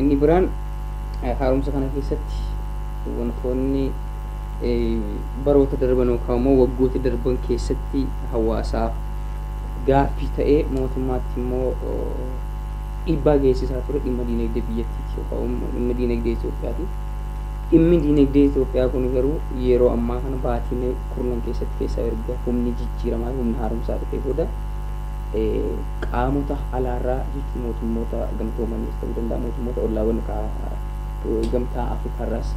Inni biraan haaromsa kana keessatti wantoonni baroota darban yookaan immoo waggoota darban keessatti hawaasaaf gaaffii ta'ee mootummaatti immoo dhiibbaa geessisaa ture dhimma diinagdee biyyattiiti yookaan immoo dhimma diinagdee Itoophiyaati. Dhimmi diinagdee Itoophiyaa kun garuu yeroo ammaa kana baatiilee kurnan keessatti keessaa erga humni jijjiiramaa humna haaromsaa dhufee booda qaamota alaarraa jechuun mootummoota gamtoomaniis ta'uu danda'a mootummoota ollaawwan gamtaa Afrikaarraas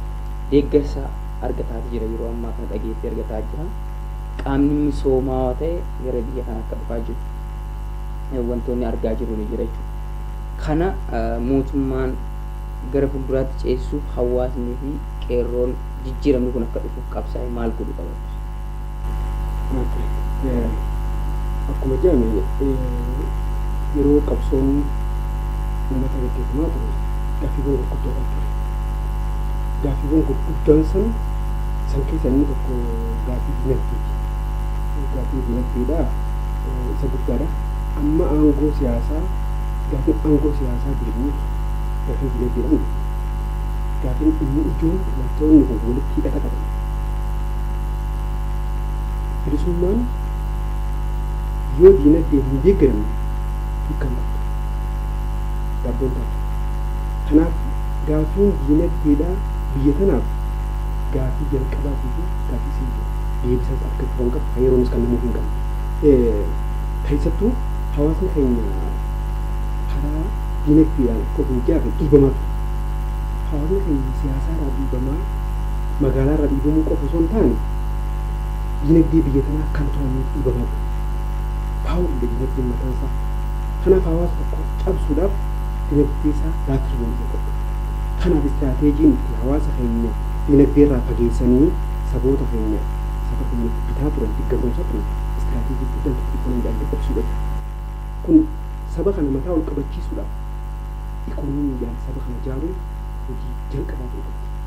deeggarsa argataa jira yeroo ammaa kana dhageettii argataa jira. Qaamni misoomaawaa ta'e gara biyya kana akka dhufaa jiru wantoonni argaa jiru ni jira jechuudha. Kana mootummaan gara fuulduraatti ceesisuuf hawaasnii fi qeerroon jijjiiramni kun akka dhufuuf qabsaa'e maal godhuu qaba? Okay. Eh, Akkuma jedhame eh, yeroo qabsoon uummata gaggeeffamaa ture gaaffiiwwan gurguddoodhaan ture. Gaaffiiwwan gurguddaan san san keessa inni tokko gaaffii dinagdeeti. Gaaffiin dinagdeedha eh, isa guddaadha. Amma aangoo siyaasaa gaaffiin aangoo siyaasaa deebi'uuf gaaffiin dinagdeedha miti. Gaaffiin inni ijoon wantoonni kun walitti hidhata qaban. Bilisummaan yoo diinagdeen hin deeggaramne hiika hin qabdu. Daabboo hin taatu. Kanaaf gaaffiin diinagdeedhaa biyya tanaaf gaaffii jalqabaatii fi gaaffii isa ijoo. Deebisaas argachuu kan qabu, kan yeroonis kennamuufii hin qabne. Keessattuu hawaasni keenya karaa diinagdeedhaan akka of mijaa'e dhiibamaa ture. Hawaasni keenya siyaasaarraa dhiibamaa magaalaa irraa dhiibamuu qofa osoo hin taane dinagdee biyya tanaa kan to'annuuf dhiibamaa jiru. Power dha dinagdeen mataan isaa. Kanaaf hawaasa tokko cabsuudhaaf dinagdee isaa laaffisu danda'uu qabda. Kanaaf istiraateejiin itti hawaasa keenya dinagdee irraa fageessanii saboota keenya saba keenya itti bitaa turan, itti gabroomsaa turan istiraateejii guddaan tokko ikoonoomii dhaabdee qubsuudha ture. Kun saba kana mataa ol qabachiisuudhaaf ikoonoomii dhaan saba kana ijaaruun hojii jalqabaa ta'uu qabdi.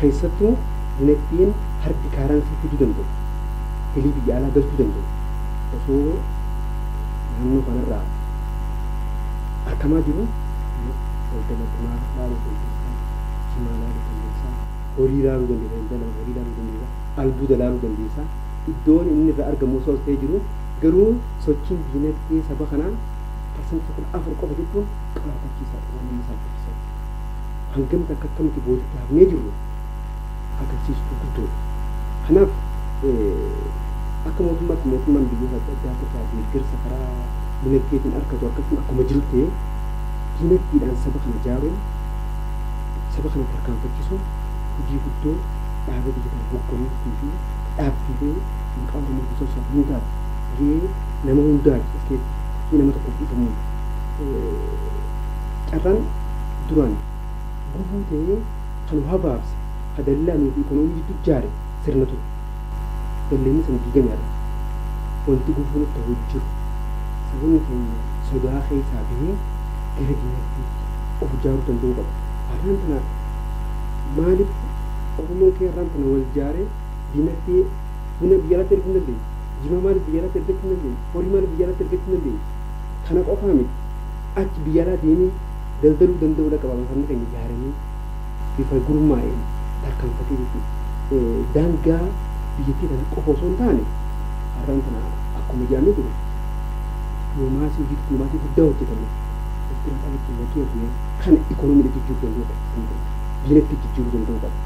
Keessattuu dinagdeen hardi kaaransii fiduu danda'u, galii biyya alaa galchuu danda'u osoo naannoo kanarraa arkamaa jiruu daldala bunaa laaluu dandeessa, jimaa laaluu dandeessa, horii laaluu dandeessa, daldala horii laaluu dandeessa, albuuda laaluu dandeessa. Iddoon inni irraa argamu osoo as ta'ee jiruu garuu sochiin dinagdee saba kanaa parsantii 14 qofa jechuun qaanfachiisaadha, waan nama saalfachiisaati. hangam takka akka nuti boodatti hafnee jirru agarsiisu gurguddoodha. Kanaaf akka mootummaatti mootummaan biyyoota adda addaati irraa deeggarsa karaa dinagdeetiin argatu argachuun akkuma jiru ta'ee dinagdeedhaan saba kana ijaaruun saba kana tarkaanfachisuun hojii guddoo dhaaba biyya kana hogganuutii fi dhaabbiilee maqaa Oromoo guddisuu isaaf hundaaf gahee nama hundaati as keessatti nama tokkoof dhiifamuun Carraan duraan gufuu ta'ee kan nu habaabse, ka dallaa nuu fi ikoonoomii jidduu ijaare sirna ture. Dalleenni san diigame har'a. Wanti gufuu nutti ta'u hin jiru. Sabonni keenya sodaa keessaa bahee gara dinagdeetti of ijaaruu danda'uu qaba. Arraan tana maaliif Oromoon keenya arraan tana wal ijaaree dinagdee buna biyya alaatti erguu hin dandeenye? Jimaa maaliif biyya alaatti ergachuu hin dandeenye? Horii maaliif biyya alaatti ergachuu hin dandeenye? Kana qofaa miti. Achi biyya alaa deemee daldaluu danda'uu dhaqa babal'ifamni keenya ijaaramee bifa gurmaa'een tarkaanfatee jechuudha. Daangaa biyyattii kana qofa osoo hin taane har'aan tana akkuma jedhamee jiru dippilomaasii hojii dippilomaasii guddaa hojjetame Ertiraa kan ittiin wal jira turee kana ikoonomiidha jijjiiruu danda'uu qaba kan jedhu diinatti jijjiiruu danda'uu qaba.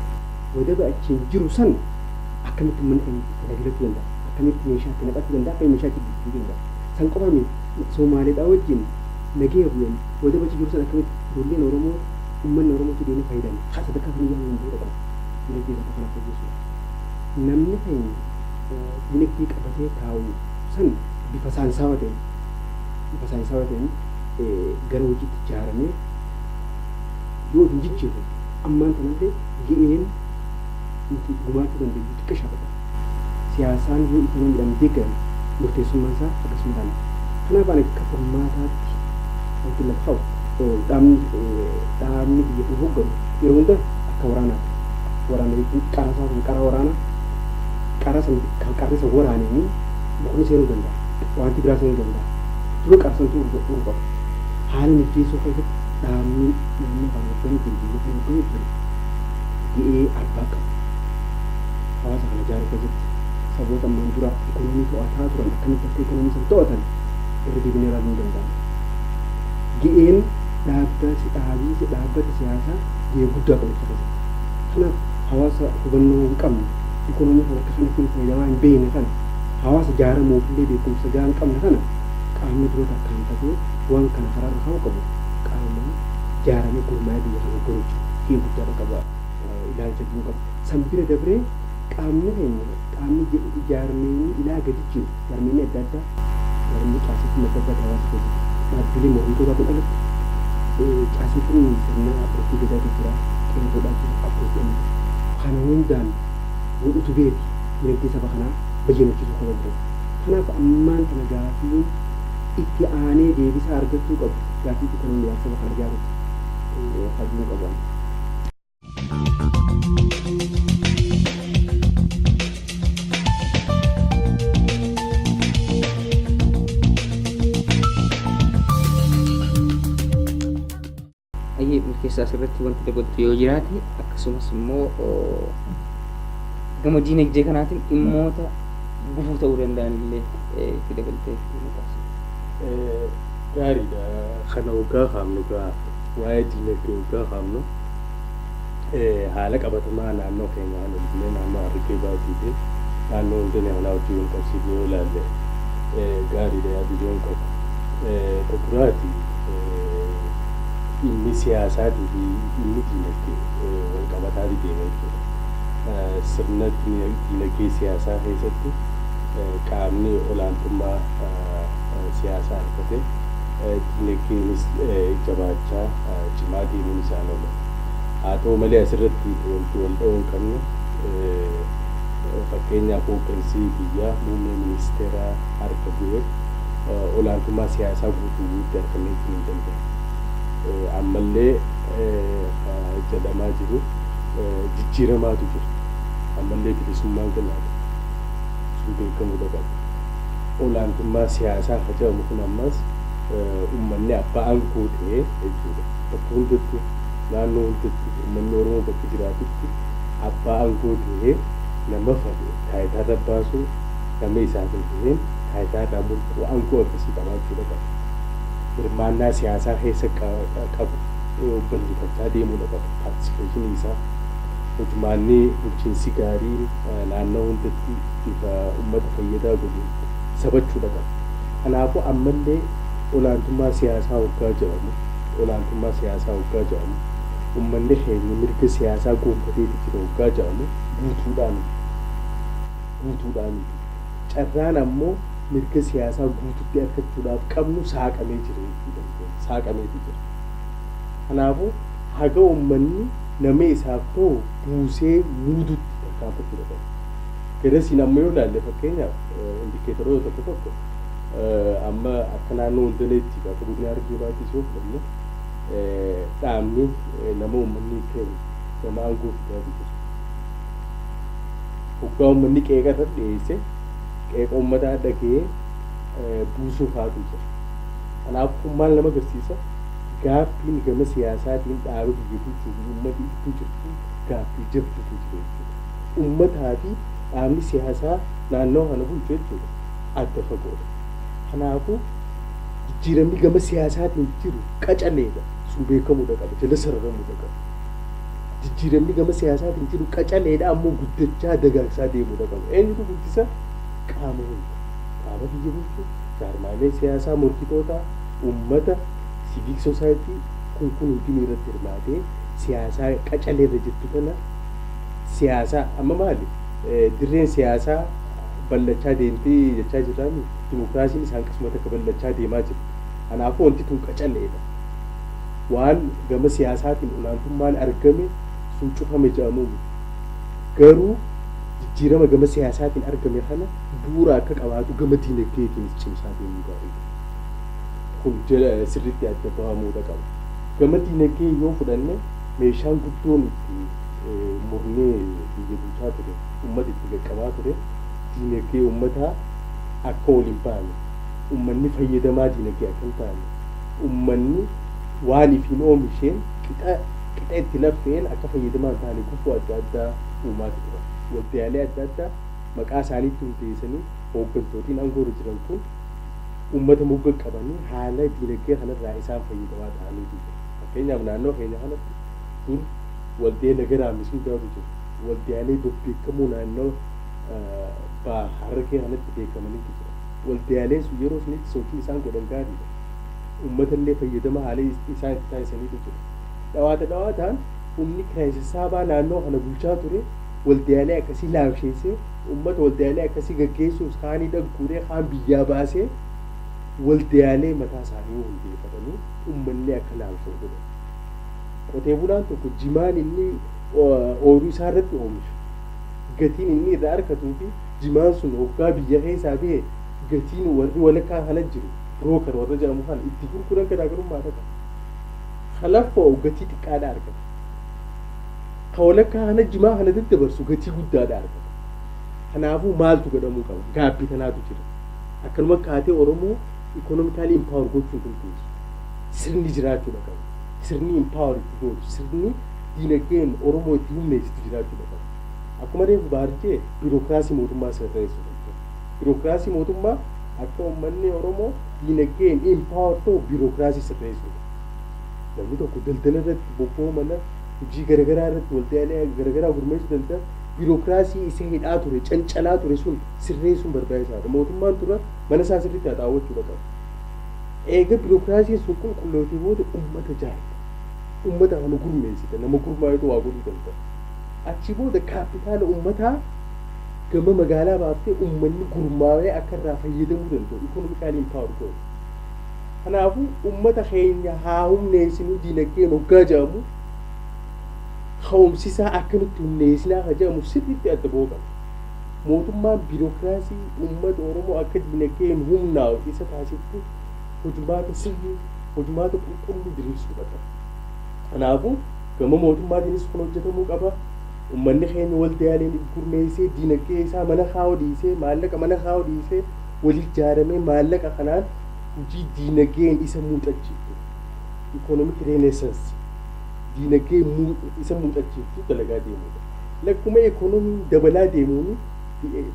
Wadaba achiin jiru san akkamitti ummanni keenya itti fayyadachuu danda'a akkamitti meeshaa itti naqachuu danda'a akkamitti meeshaa itti jijjiiruu danda'a san qofa miti. Somaaleedhaa wajjin nagaya bu'een wadaba achi jiru san akkamitti ijoolleen Oromoo ummanni Oromoo achi deemee fayyadamu haa sadarkaa kamiyyuu hanga danda'u dhaqu dinagdee isaa kana fooyyessuudhaaf. Namni keenya dinagdee qabatee taa'u san bifa saayinsaawaa ta'een bifa saayinsaawaa ta'een gara hojiitti jaaramee yoo of hin jijjiirre ammaan tanallee ga'een nuti gumaachuu dandeenyu xiqqashaadha. siyaasaan yoo itti namidhaan deeggare murteessummaan isaa hagas madaala. Kanaaf ani akka furmaataatti wantin lafa ka'u dhaabni biyya kana hogganu yeroo hunda akka waraanaatti waraana jechuun qara isaa kan qara waraanaa qara san kan qarri san waraaneenii mukni seenuu danda'a. Wanti biraa seenuu danda'a. Dura qara santu urga'uu qaba. Haala mijeessuu keessatti dhaabni naannoo kana hogganee jiru biyya kana hogganee jiru ga'ee arbaa qaba. hawaasa kana ijaaruu keessatti saboota ammaan dura ikonoomii to'ataa turan akkamitti akka ikonoomii san to'atan irra deebinee ilaaluu ni danda'ama. Ga'een dhaabba si dhaabii si dhaabbata siyaasaa ga'ee guddaa qabu isa keessatti. Kanaaf hawaasa hubannoo hin qabne ikonoomii kana akka kanatti hin fayyadamaa hin beekne kana hawaasa ijaaramuuf illee beekumsa ga'aa hin qabne kana qaamni dura tarkaanfatee waan kana karaarra kaa'uu qabu qaama ijaaramee gurmaa'ee biyya kana hogganu jechuudha. Ga'ee guddaa qaba. ilaalcha jiru qaba. San bira dabree qaamni keenya, qaamni jaarmiyni ilaa gadi jiru, jaarmiyni adda addaa, jaarmiyni caasefin adda addaa hawaasa keessa jiru, dhaabbilee mormitootaa kun alatti caasefin sirna Abbootii Gadaatu jira, Qeerroodhaa jira, Abbootiidhaan jira. Kana hundaan wal utubeeti dinagdee saba kanaa bayyanachiisuu ka danda'u. Kanaaf ammaan tana gaafiin itti aanee deebisaa argachuu qabu gaafii itti tanoon ilaalcha saba kana ijaaruuti ka jedhun qabu ani. ayyee milkeessaa asirratti wanti dabaltu yoo jiraate akkasumas immoo oo, gama diinagdee kanaatiin dhimmoota gufuu ta'uu danda'an illee eh, itti dabaltee nu taasisa. Eh, gaariidha kana hoggaa kaafnu gaa Waa'ee diinagdee hoggaa kaafnu haala qabatamaa naannoo keenyaa kana illee naannoo Harargee Baatii fi naannoo Hundanee kanaa wajjin wal qabsiifnee yoo ilaalle gaariidha yaada jedhun qaba. Ka duraati dhimmi siyaasaatii fi dhimmi diinagdee wal qabataati deema jechuudha. Sirna diinagdee siyaasaa keessatti qaamni olaantummaa siyaasaa argate Dinagdeenis jabaachaa, cimaa deemuun isaan oola. Haa ta'u malee asirratti wanti wal dha'uu hin qabne fakkeenyaaf hooggansi biyyaa muummee ministeeraa harka bu'ee olaantummaa siyaasaa guutuu guutti arkameechuu hin dandeenye. Ammallee ka jedhamaa jiru jijjiiramaatu jira. Ammallee bilisummaan galaadha. Sun beekamuudha qaba. olaantummaan siyaasaa kan jedhamu kun ammas ummanni abbaa aangoo ta'e jechuudha. Bakka hundattuu, naannoo hundattuu ummanni Oromoo bakka jiraatutti abbaa aangoo ta'ee nama fadhe taayitaarra baasuu, nama isaaf hin ta'in taayitaarraa mulquu aangoo akkasii qabaachuudha qaba. Hirmaannaa siyaasaa keessa qabu bal'ifachaa deemuudha qaba. Paartisipeeshinii isaa hojmaanni bulchiinsi gaariin naannoo hundatti. isa ummata fayyadaa godhu sabachuudha qabu. Kanaafuu ammallee olaantummaa siyaasaa hoggaa jedhamu, olaantummaa siyaasaa hoggaa jedhamu, ummanni keenya mirga siyaasaa goonfateeti jira hoggaa jedhamu guutuudhaa miti. Guutuudhaa miti. Carraan ammoo mirga siyaasaa guututti arkachuudhaaf qabnu saaqamee jira jechuu dandeenya. Saaqameeti jira. Kanaafuu haga ummanni nama isaaf tahu buusee muudutti tarkaanfachuu dha qabu. Peresin amma yoo ilaalle fakkeenyaaf indikeetaroota tokko tokko amma akka naannoo Hundaneetti akka godina Harargee Bahaattis yoo fudhanne dhaabni nama uummanni keenya nama aangoo fidaa jiru. Hoggaa uummanni qeeqa irra dhiyeesse qeeqa uummataa dhaga'ee buusuu faatu jira. Kanaaf kun maal nama agarsiisa? Gaaffiin gama siyaasaatiin dhaaba biyya bulchuu fi uummata gidduu jirtu gaaffii jabduutu jira jechuudha. ummataa fi dhaabni siyaasaa naannawa kana bulchu jechuudha adda fagoodha. Kanaafuu jijjiiramni gama siyaasaatiin jiru qacaleedha. Sun beekamuudha qaba. Jala sararamuudha qaba. Jijjiiramni gama siyaasaatiin jiru qacaleedha ammoo guddachaa dagaagsaa deemuudha qaba. Eenyutu guddisa? Qaama hunda. Qaama biyya bulchu, jaarmaalee siyaasaa morkitootaa, ummata, siviik sosaayitii kun kun hundinuu irratti hirmaatee siyaasaa qacaleerra jirtu kana siyaasaa amma maali dirreen siyaasaa bal'achaa deemtee jechaa jirraami dimokiraasiin isa hanqisuma takka bal'achaa deemaa jira. Kanaafuu wanti tun qacaleedha. Waan gama siyaasaatiin olaantummaan argame sun cufame jedhamuu miti. Garuu jijjiirama gama siyaasaatiin argame kana bu'uura akka qabaatu gama diinagdeetiinis cimsaa deemuu gaariidha. Kun sirriitti adda bahamuudha qaba. Gama diinagdee yoo fudhanne meeshaan guddoon itti murni biyya bulchaa ture ummata itti qaqqabaa ture diinagdee ummataa akka ol hin baane ummanni fayyadamaa diinagdee akka hin taane ummanni waan ifiin oomisheen qixa qixa itti laffeen akka fayyadamaa hin taane gufuu adda addaa uumaati turan waldaalee adda addaa maqaa isaaniitti hundeessanii hooggantootiin aangoo irra jiran kun ummata mogga qabanii haala diinagdee kanarraa isaan fayyadamaa ta'anii jiru fakkeenyaaf naannoo keenya kanatti Dur waldee nagaraa misuudaatu ture. Waldaalee babbeekkamoo naannawa Baha Harargee kanatti beekkamaniitu jiran. Waldaaleen sun yeroo sunitti sochiin isaan godhan gaariidha. Ummatallee fayyadama haalii isaan itti taasisaniitu jira. Dhawaata dhawaataan humni kiraay sassaabaa naannawa kana bulchaa ture waldaalee akkasii laamsheessee ummata waldaalee akkasii gaggeessuuf kaanii dhagguuree kaan biyyaa baasee waldaalee mataa isaanii hundeeffatanii ummanni akka laamsha'u godhan. Qotee bulaan tokko jimaan inni ooyruu isaa irratti oomishu gatiin inni irraa arkatuu fi jimaan sun hoggaa biyya keessaa bahe gatiin warri walakkaa kana jiru broker warra jedhamu kana itti gurguran garaagarummaa dha qaba. Ka laffa'u gatii xiqqaa dha argata. Ka walakkaa kana jimaa kana daddabarsu gatii guddaa dha argata. Kanaafuu maaltu godhamuu qaba? Gaabbii tanaatu jira. Akkanuma kaatee Oromoo economically empower gochuu hin dandeessu. Sirni jiraachuudha qabu. Sirni empower itti gootu, sirni diinagdeen Oromoo itti humneessitu jiraachuudha qabu. Akkuma reefu Bahar jee birokraasii mootummaa sirreessu jechuudha. Birokraasii mootummaa akka ummanni Oromoo diinagdeen empower ta'u birokraasii sirreessuudha. Namni tokko daldala irratti bobba'uu mala, hojii garagaraa irratti waldaalee garagaraa gurmeessuu danda'a. Birokraasii isa hidhaa ture, cancalaa ture sun sirreessuun barbaachisaadha. Mootummaan dura mana isaa sirriitti haxaawwachuudha qabu. Eega birokraasiin sun qulqullootee booda ummata jaarta. Ummata amanu gurmeessita. Nama gurmaayetu waa godhuu danda'a. Achii booda kaappitaala ummataa gama magaalaa baaftee ummanni gurmaawee akka irraa fayyadamuu danda'u economically empowered goota. Kanaafuu ummata keenya haa humneessinuu dinagdeen hoggaa jedhamu ka'umsisaa akkamitti humneessinaa ka jedhamu sirriitti adda ba'uu qaba. Mootummaan biirokiraasii uummata Oromoo akka diinagdeen humnaa'u isa taasiftu hojmaata sirrii, hojmaata qulqulluu diriirsuudha qaba. Kanaafuu, gama mootummaatiinis kun hojjetamuu qaba. Uummanni keenya waldaaleen if gurmeessee diinagdee isaa mana kaa'uu dhiisee, maallaqa mana kaa'uu dhiisee, wal ijaaramee maallaqa kanaan hojii diinagdeen isa muuxachiiftu, economic renaissance, diinagdee isa muuxachiiftu dalagaa deemuudha. Lakkuma ekonomiin dabalaa deemuun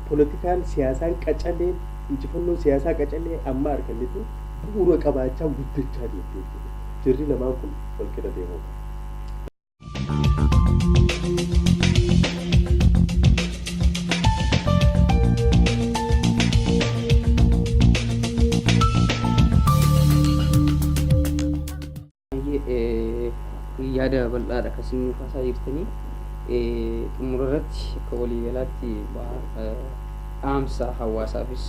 polotikaan, siyaasaan qacaleen, injifannoon siyaasaa qacalee amma arganne tun bu'uura qabaachaa guddachaa deemte jechuudha. Jarri lamaan kun wal qixa deemuu qabu. Baay'ee yaada bal'aadha kan isin nu kaasaa jirtanii. Xumura irratti akka waliigalaatti dhaamsa hawaasaafis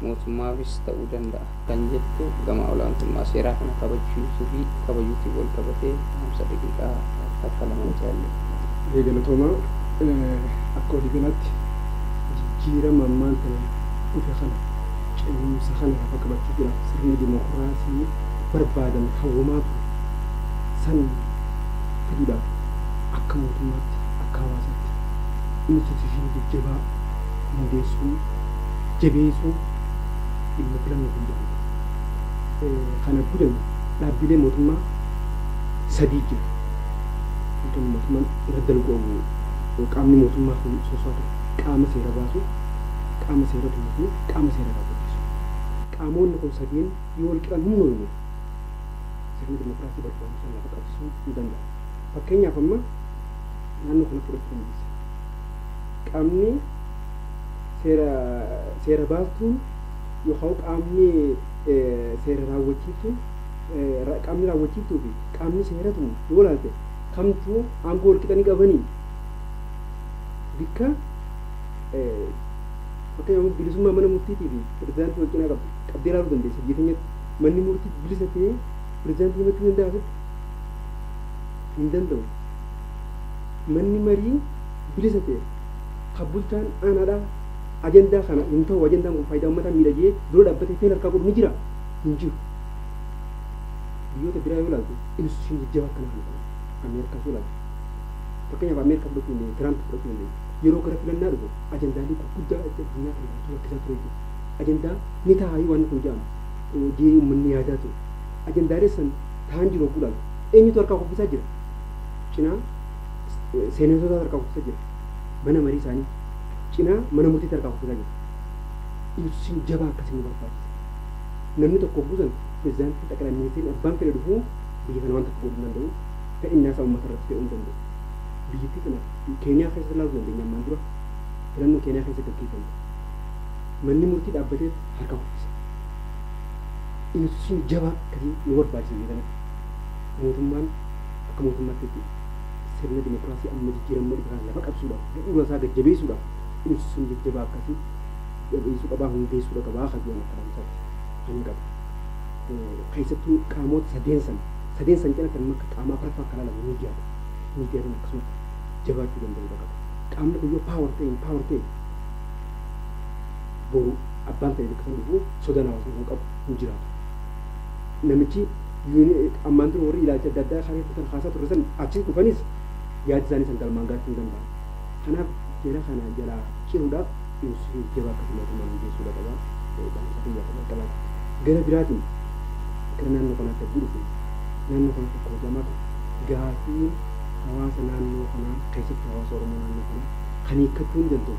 mootummaafis ta'uu danda'a kan jettu gama olaantummaa seeraa kana kabachiisuu fi kabajuutiin wal qabatee dhaamsa daqiiqaa takka lama nuti haallee. Baay'ee galatoomaa. Akka waliigalaatti jijjiirama ammaan tana dhufe kana cehumsa kana lafa qabachuufiidhaaf sirni dimokiraasii barbaadan hawwamaa ture san fiduudhaaf akka mootummaatti, akka hawaasaatti instituushinii jajjabaa hundeessuun, jabeessuun dhimma filannoof hin jedhamne. Kana godhame dhaabbilee mootummaa sadii jira. Wantoonni mootummaan irra dalgu qaamni mootummaa kun soso'aa ture qaama seera baasu, qaama seera tumu fi qaama seera raawwachiisu. Qaamoonni kun sadeen Yoo wal qixaan hin mormine sirni dimokiraasii barbaadu san lafa qabsiisuu hin danda'an. Fakkeenyaaf amma naannoo kana fudhachuu dandeessa. Qaamni seera seera baastuun yookaan qaamni seera raawwachiiftuun qaamni raawwachiiftuu fi qaamni seera tumu yoo ilaalte kamtu aangoo wal qixa ni qabanii? Bikka fakkeenyaaf bilisummaa mana murtiitii fi pirezidaantii wal cinaa qabdu. qabdee ilaaluu dandeessa. Biyya keenyatti manni murtii bilisa ta'ee pirezidaantii himachuu ni danda'aa sitti? Hin danda'u. Manni marii bilisa ta'e kan bulchaan aanaadhaa ajandaa kana hin ta'u ajandaan kun faayidaa uummataa miidha jedhee dura dhaabbatee feel harkaa godhu ni jira? Hin jiru. Biyyoota biraa yoo ilaaltu instituushinii jajjabaa akkanaa kan qabu Ameerikaas yoo ilaaltu fakkeenyaaf Ameerikaa fudhachuu dandeenya Tiraamp fudhachuu dandeenya yeroo gara filannaa dhufu ajandaalee gurguddaa addunyaa kana bulchuu rakkisaa ture jechuudha. ajandaa ni taa'aayii waanni kun jedhamu jedhee uummanni yaadaa ture. Ajandaalee san taa'an jiru hogguu ilaaltu eenyutu harkaa kuffisaa jira? Cinaa seeneetotaatu harkaa kuffisa jira. Mana marii isaanii cinaa mana murtiitti harkaa kuffisaa jira. Ibsiin jabaa akkasii nu barbaachisa. Namni tokko hogguu san pirezidaantiin xaqilaa ministeerri abbaan fedhe dhufuu biyya kana waan takka godhuu hin danda'u. Fedhinnaa isaa uummata irratti fe'uu hin danda'u. Biyyattii tana Keeniyaa keessatti ilaaluu dandeenya ammaan dura filannoo Keeniyaa keessa gaggeeffame. manni murtii dhaabbateet harka kuffisa. Institution jabaa akkasii nu barbaachisa biyya kanatti. Mootummaan akka mootummaattitti sirna dimokiraasii amma jijjiiramma dhufe kana lafa qabsuudhaaf, bu'uura isaa gad jabeessuudhaaf institution jajjabaa akkasii jabeessuu qabaa, hundeessuudha qabaa ka jedhu akka dhaamsaatti kanan qabu. Keessattuu qaamoota sadeen san, sadeen san cinatti amma akka qaama afraffaa ka ilaalamu miidiyaadha. Miidiyaaleen akkasumatti jabaachuu danda'uudha qaba. Qaamni kun yoo power ta'e, empower ta'e, boru abbaan ta'e bakka sana dhufu sodaan hawaasni tokko qabu hin jiraatu. Namichi ammaan dura warri ilaalcha adda addaa kaasee kutan kaasaa turre san achi dhufanis yaada isaanii san galmaan gaachuu hin danda'an. Kanaaf jara kana jalaa ciruudhaaf inisitiin jaba akka mootummaan hundeessuudha qaba. Dhaamsa kiyyaa kan qabaate. Gara biraatiin gara naannoo kanaatti abdii dhufe naannoo kanatti akkuma jedhamaa ture gaafiin hawaasa naannoo kanaa keessattuu hawaasa Oromoo naannoo kanaa kan hiikkachuu ni danda'u.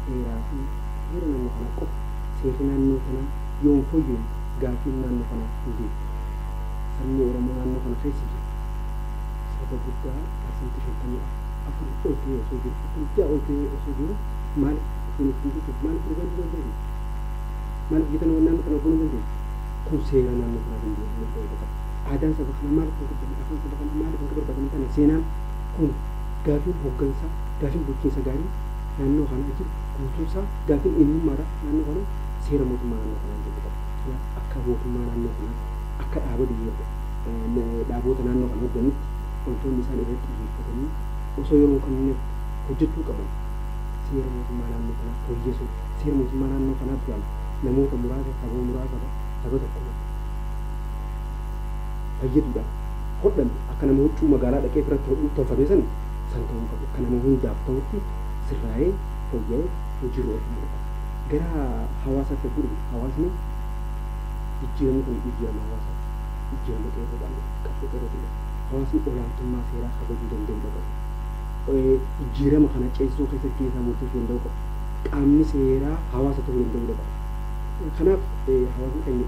Heeraa fi heera naannoo kanaa qofa. Seerri naannoo kanaa yoo hin fooyyooyne gaaffiin naannoo kanaa hin deebi'u. Sabni Oromoo naannoo kana keessa jiru saba guddaa parsantii 54 ol ta'ee osoo jiru, 46 ol ta'ee osoo jiru maaliif ittiin of hin bulchine? Maaliif mirga hin dandeenye? Maaliif gita naannoo kana goonuu hin dandeenye? Kun seera naannoo kanaa danda'uu qaba. Aadaan saba kanaa maaliif hin kabajamne? Afaan saba kanaa maaliif akka barbaadamu hin taane? Seenaan kun Gaafiin hoggansaa, gaafiin bulchiinsa gaarii naannoo kanaa jiru guutuun isaa gaafiin eenyummaadha naannoo kanaa seera mootummaa naannoo kanaan jiru qofa. Kanaaf akka mootummaa naannoo kanaatti, akka dhaaba biyya dhaaboota naannoo kana hogganitti wantoonni isaan irratti xiyyeeffatanii osoo yeroo hin kennineef hojjechuu qaban seera mootummaa naannoo kanaa fooyyesuu, seera mootummaa naannoo kanaa duraan namoota muraasa, saba muraasa, saba tokko irratti. fayyaduudhaaf hodhame akka nama huccuu magaalaa dhaqee ofirratti hodhuutti tolfamee sana san ta'uu hin qabu. Akka nama hundaaf ta'utti sirraa'ee, fooyya'ee hojiirra oolfamuu qaba. Gara hawaasaatti yogguu dhufnu hawaasni jijjiiramni kun jijjiirama hawaasaati. Jijjiirama qeerroodhaan dhufe, qabsoo qeerrootiin dhufe. Hawaasni olaantummaa seeraa kabajuu danda'uudha qabu. Jijjiirama kana ceesisuu keessatti gahee isaa murteessuu danda'uu qabu. Qaamni seeraa hawaasa ta'uu danda'uudha qabu. Kanaaf hawaasni keenya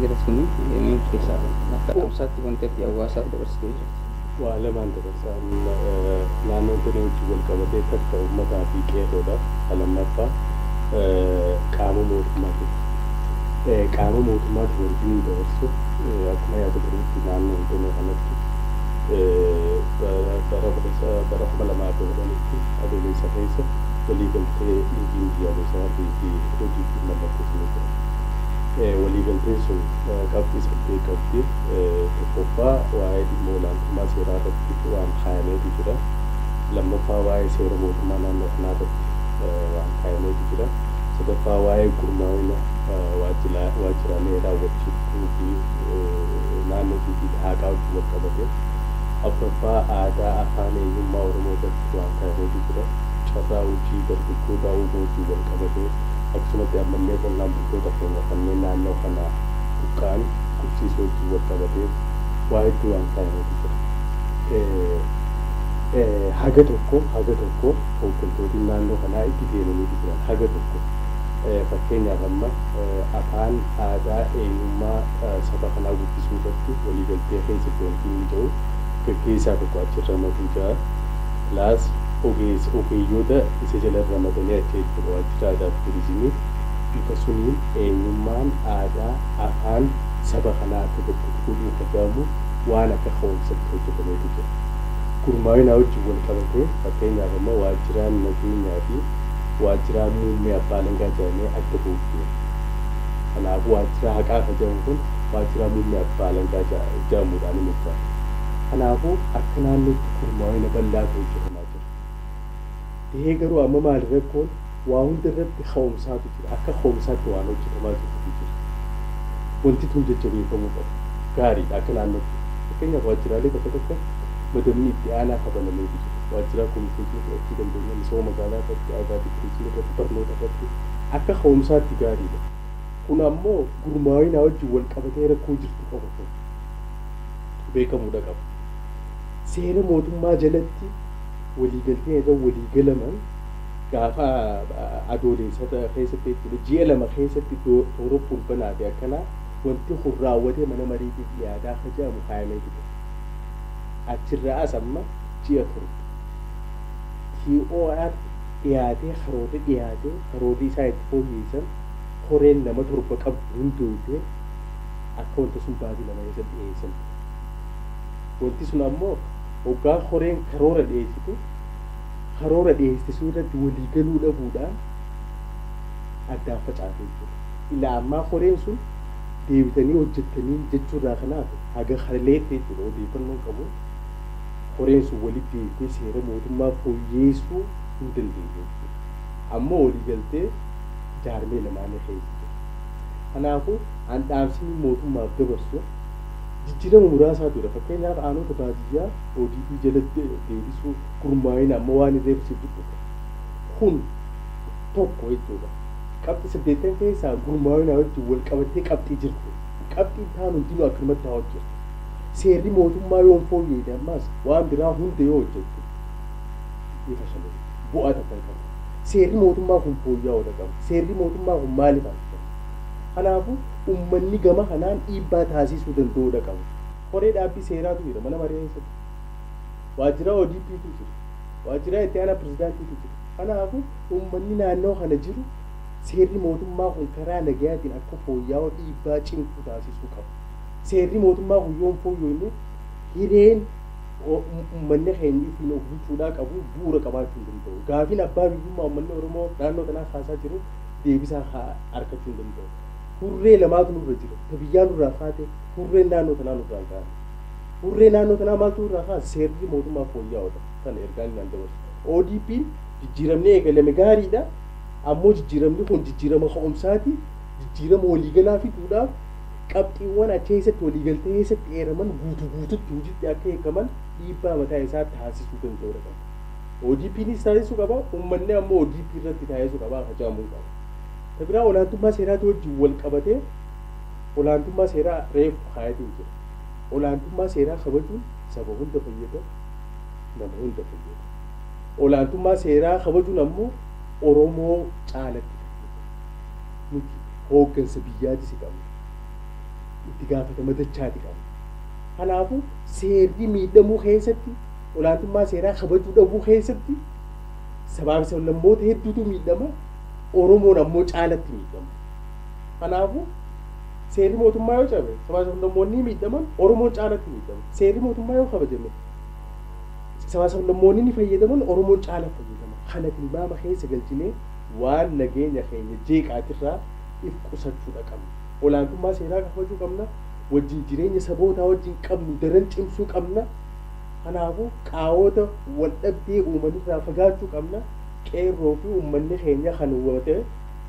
Jara suni MM keessaa bahe. Akka dhaamsaatti wanti ati hawaasaaf dabarsitee jirti. Waa lamaan dabarsa. Naannoon Tiree wajjin wal qabatee kkf ummataa fi qeerroodha. Ka lammaffaa qaama mootummaatiif. Qaama mootummaatiif wanti nuyi dabarsu akkuma yaadatanitti naannoon Tiree kanatti bara 2010tti Adoolessa keessa waliigaltee liigiin biyyaalessaa fi ODPn mallatteessanii turan. Waliigalteen sun qabxii saddeet qabdi. Tokkoffaa waa'ee dhimma olaantummaa seeraa irratti waan kaayameetu jira. Lammaffaa waa'ee seera mootummaa naannoo kanaa irratti waan kaayameetu jira. Sadaffaa waa'ee gurmaa'ina waajjiraalee raawwachiiftuu fi naannootii fi haqaa wajjin wal qabate. Afraffaa aadaa afaan eenyummaa Oromoo irratti waan kaayameetu jira. Carraa hojii dargaggootaa uumuu wajjin wal qabate. Akkasumatti ammallee qonnaan bultoota keenya kanneen naannoo kanaa buqqa'an qubsiisuu wajjin wal qabatee waa hedduu waan kaayametu jira. Haga tokko haga tokko hooggantooti naannoo kanaa itti deemaniiti jiran. Haga tokko fakkeenyaaf amma afaan, aadaa, eenyummaa saba kanaa guddisuu irratti waliigaltee keessa jirantu hin mija'u. Gaggeessaa tokko achi ramaduu jira. Plus ogeessa ogeeyyoota isa jala ramadanii akka itti waajjira aadaaf turizimii bifa suniin eenyummaan, aadaa, afaan saba kanaa akka gabbutu godhuun hogaamu waan akka ka'umsatti hojjatameetu jira. Gurmaawinaa wajjin wal qabatee fakkeenyaaf amma waajjiraan nageenyaa fi waajjiraan muummee abbaa alangaa jedhamee adda bahuuf deema. Kanaafuu waajjira haqaa ka jedhamu kun waajjiraa muummee abbaa alangaa jedhamuudhaan hin moggaafama. Kanaafuu akka naannootti. gurmaa'ina bal'aatu hojjetamaa jira. Tahee garuu amma maali rakkoon waa hunda irratti ka'umsaatu jira. Akka ka'umsaatti waan hojjetamaa jirutu jira. Wanti tun jajjabeeffamuu qaba. Gaariidha akka naannootti. Fakkeenyaaf waajjiraalee bakka tokko madamni itti aanaa ka banameetu jira. Waajjiraa kominikeeshinii fudhachuu dandeenya, misooma magaalaa irratti, aadaafi turizimii irratti, barnoota irratti akka ka'umsaatti gaariidha. Kun ammoo gurmaa'inaa wajjin walqabatee rakkoo jirtu qofa kun beekamuudha qaba. seera mootummaa jalatti waliigalteen irra walii galaman gaafa adooleessata keessatti jechuudha ji'a lama keessatti toora fulbanaa fi akkanaa wanti kun raawwatee mana mariitiif dhiyaataa akka jedhamu kaayamee ture. Achirraa as amma ji'a torba. TOR dhiyaatee karoorri dhiyaatee karoorri isaan itti fooyyeessan koreen nama torba qabdu hundoofte akka wanta sun baatii lama keessa dhiyeessan. Wanti sun ammoo oggaa koreen karoora dhiyeessitu karoora dhiyeessite sun irratti walii galuu dhabuudhaan addaan facaate jechuudha. Ilaa ammaa koreen sun deebitanii hojjettanii jechuu irraa kan hafe haga kaleetti jechuudha odeeffannoon qabu koreen sun walitti deebitee seera mootummaa fooyyeessuu hin dandeenye jechuudha. Ammoo walii galtee jaarmee lamaanii keessa jira. Kanaafuu an dhaamsini mootummaaf dabarsu. jijjiirama muraasaa ture. Fakkeenyaaf aanoota baadiyyaa ODP jala deebisuu, gurmaa'ina amma waan reefu siif tuqe kana. Kun tokko jechuudha. Qabxii saddeettan keessaa gurmaa'inaa wajjin wal qabattee qabxii jirti. Qabxiin taan hundinuu akkanumatti haa hojjettu. Seerri mootummaa yoo hin fooyya'ine ammaas waan biraa hunda yoo hojjette ni fashale. Bu'aa takka hin qabu. Seerri mootummaa kun fooyya'uudha qaba. Seerri mootummaa kun maaliif harkifame? Kanaafuu ummanni gama kanaan dhiibbaa taasiisuu danda'uu dha qabu. Koree dhaabbii seeraatu jira mana maree keessatti. Waajjiraa ODP tu jira. Waajjiraa itti aanaa pirezidaantii tu jira. Kanaafu ummanni naannawa kana jiru seerri mootummaa kun karaa nagayaatiin akka fooyyaa'u dhiibbaa cimtuu taasiisuu qaba. Seerri mootummaa kun yoo hin fooyyooyne hireen ummanni keenya ittiin of bulchuudhaa qabu bu'uura qabaachuu hin danda'u. Gaafiin abbaa biyyummaa ummanni Oromoo naannoo kanaa kaasaa jiru deebisaa argachuu hin danda'u. hurree lamaatu nurra jira. Ta biyyaa nurraa kaate, hurreen naannoo tanaa nurraa hin kaane. Hurree naannoo tanaa maaltu nurraa kaase? Seerri mootummaa fooyya'oodha. Tana ergaan inni an dabarsu. ODPn jijjiiramni eegalame gaariidha. Ammoo jijjiiramni kun jijjiirama ka'umsaati. Jijjiirama waliigalaa fiduudhaaf qabxiiwwan achi keessatti waliigaltee keessatti eeraman guutuu guututti hojiitti akka hiikaman dhiibbaa mataa isaa taasisuu danda'uudha qaba. ODPnis taasisuu qaba, ummanni ammoo ODP irratti taasisuu qaba, hajaamuu qaba. Ta biraa olaantummaa seeraatii wajjin wal qabatee olaantummaa seeraa reefu kaayatee jira. Olaantummaa seeraa kabajuun saba hunda fayyada, nama hunda fayyada. Olaantummaa seeraa kabajuun ammoo Oromoo caalatti fayyada. Nuti hooggansa biyyaati si qabna. Itti gaafatama dachaati qabna. Kanaafu seerri miidhamuu keessatti, olaantummaa seeraa kabajuu dhabuu keessatti sabaafi sablammoota hedduutu miidhama. Oromoon ammoo caalatti miidhama. Kanaafuu seerri mootummaa yoo cabe sabaa sablammoonni miidhaman Oromoon caalatti miidhama. Seerri mootummaa yoo kabajame sabaa sablammoonni ni fayyadaman Oromoon caala fayyadama. Kana tilmaama keessa galchinee waan nageenya keenya jeeqaatirraa if qusachuudha qabna. Olaantummaa seeraa kabajuu qabna. Wajjin jireenya sabootaa wajjin qabnu daran cimsuu qabna. Kanaafuu qaawota wal dhabdee uumanirraa fagaachuu qabna. Qeerroo fi ummanni keenya kan woote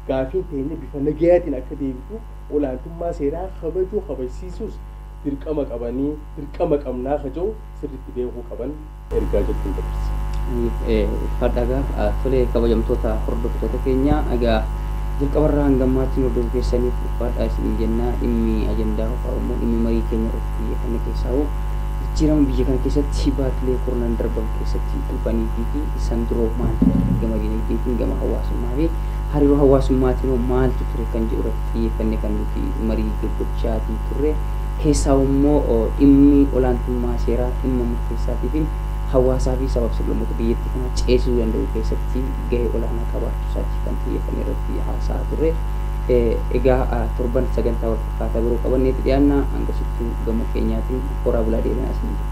gaafiin teenya bifa nagayaatiin akka deebitu olaantummaa seeraa kabajuu kabajsiisuus dirqama qabanii dirqama qabnaa ka jedhu sirriitti beekuu qaban ergaa jettuun dabarsa. Nuuf ulfaadhaa egaa tolee kabajamtoota hordoftoota keenya egaa jalqabarraa hanga ammaatti nu hordofuu keessaniif ulfaadhaa isiniin jenna dhimmi ajandaa hofaa immoo dhimmi marii keenya irratti xiyyeeffanne keessaa hoo jijjiirama biyya kana keessatti baatilee kurnan darban keessatti dhufanii fi San duroo maal ture? Gama dinagdeetiin, gama hawaasummaa fi hariiroo hawaasummaatiin hoo maaltu ture kan jedhu irratti xiyyeeffannee kan nuti marii gaggochaatii turre. Keessaahuu immoo dhimmi olaantummaa seeraa dhimma murteessaatii fi hawaasaa fi sabaaf sablammoota biyyattii kanaa ceesisuu danda'u keessatti gahee olaanaa qabaachuu isaatiif kan xiyyeeffannee irratti haasa'aa turre. Egaa torban sagantaa wal fakkaataa biroo qabanneeti dhiyaanna. Hangasittuu gama keenyaatiin horaa bulaa deebinaa isiniin jenna.